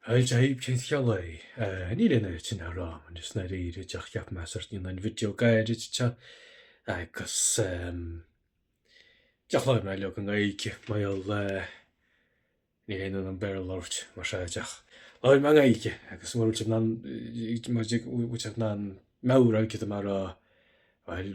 Dia dhaoibh cén scéal é? Ahh níl an oiread sin le rá agam anois i ndáiríre díreach cheap mé sórt níl aon video gairid te agus ehm díreach labhróidh mé leo i nGaeilge mar eh níl aon fhonn orm Béarla a labhairt mar sin díreach labhróidh mé i nGaeilge agus mura bhfuil sibh in ann eh mura bhfuil sibh in ann meabhrú céard atá mé a rá bhuel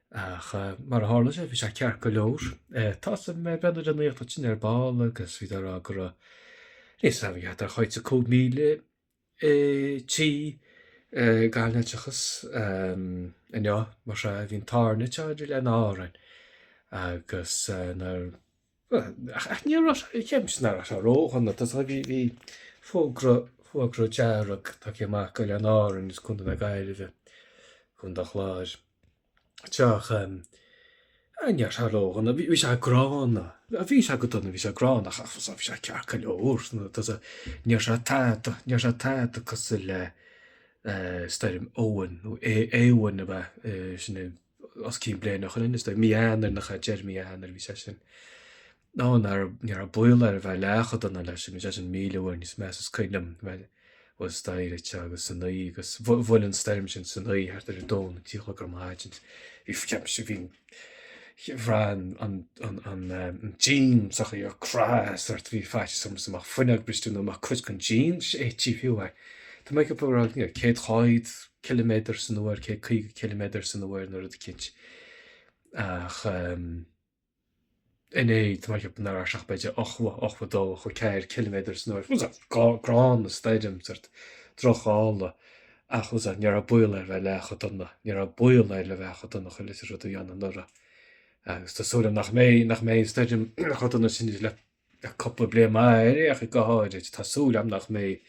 Ach, mar a tharla sé, bhí sé ceart go leor. Thosaigh mé ag breathnú ar an nuacht ansin ar ball agus bhí siad á rá go raibh níos mó iad ar chuid de 5,000 tí gan leictreachas inniu, mar sin bhí an t-ádh orainne ar Oileáin Árann agus na. Ach níor raibh sé ceapaimse nach raibh sé ródhona tá a fhios agat bhí bhí fógra fógra dearg tugtha amach go Oileáin Árann is Contae na Gaillimhe, Contae an Chláir, ach ní raibh sé ródhona bhí bhí sé gránna bhí sé go dona bhí sé gránna ach bhí sé bhí sé ceart go leor tá a fhios agat ní raibh sé tada ní raibh sé tada cosúil le stoirm Eoin nó Éowyn ab ea sin é. os cionn bliain ó shin, is dóigh mí Eanáir nach ea deireadh mí Eanáir bhí sé sin. Ní raibh ní raibh baol air a bheith leath chomh dona leis, bhí sé sin míle uair níos measa is cuimhin liom bheith thuas staighre agus san oíche agus bhuail an stoirm sin san oíche thart ar a dó nó a trí a chlog ar maidin. Bhí ceapaimse bhí bhraith an an an an an díon sa teach ar crith sórt bhí faitíos orm go mbeadh fuinneog briste nó go mbeadh cuid den díon séidte Tá mé ag ceapadh céad cháid ciliméadar san uair, 150 ciliméadar san uair nó rud eicínt. Ach inné, tá mé ag ceapadh nach raibh sé ach b'fhéidir 80, 82, 84 ciliméadar san uair. Tá a fhios agat gránna an stoirm, sórt drochghála, ach tá a fhios agat ní raibh baol air a bheith leath chomh dona, ní raibh baol air le bheith chomh dona leis an rud a bhí ann anuraidh. Agus tá súil agam nach mbeidh, nach mbeidh an stoirm chomh dona sin idir le cúpla bliain maith ar aon chaoi go háirid, tá súil agam nach mbeidh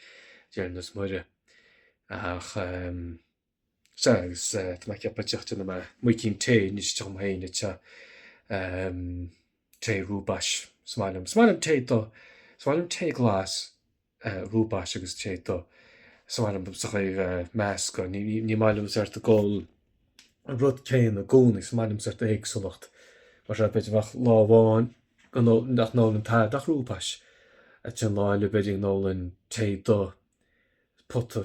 Dia linn is Muire ach sea, agus tá mé ag ceapadh díreach déanfaidh mé muigín tae anois dom féin tae, tae rooibos, is maith liom, is maith liom tae dubh, is maith liom tae glas, dhúbairt agus téigh tu san ainm dom sa chaor a meas go ní maith liom is ort a dhul an rud céanna i gcónaí is maith liom is ort éagsúlacht mar seo b'fhéidir bheadh lá amháin nach n-ólann tada ach dhúbairt a dtionláil le beirín ólann téigh du pota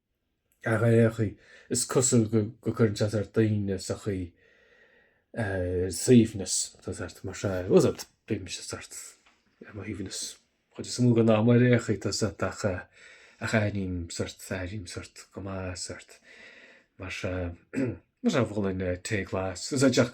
Ach ar aon chaoi, is cosúil go gcuireann sé sórt daoine sa chaoi ar suaimhneas, tá sórt mar seo, uh sórt, bímse sórt ar mo shuaimhneas chuid is mó den am, mar ar aon chaoi, tá sórt ach aithním sórt, aithním sórt, go maith sórt, mar seo, mar seo a bhfuil an tae glas, is ea ach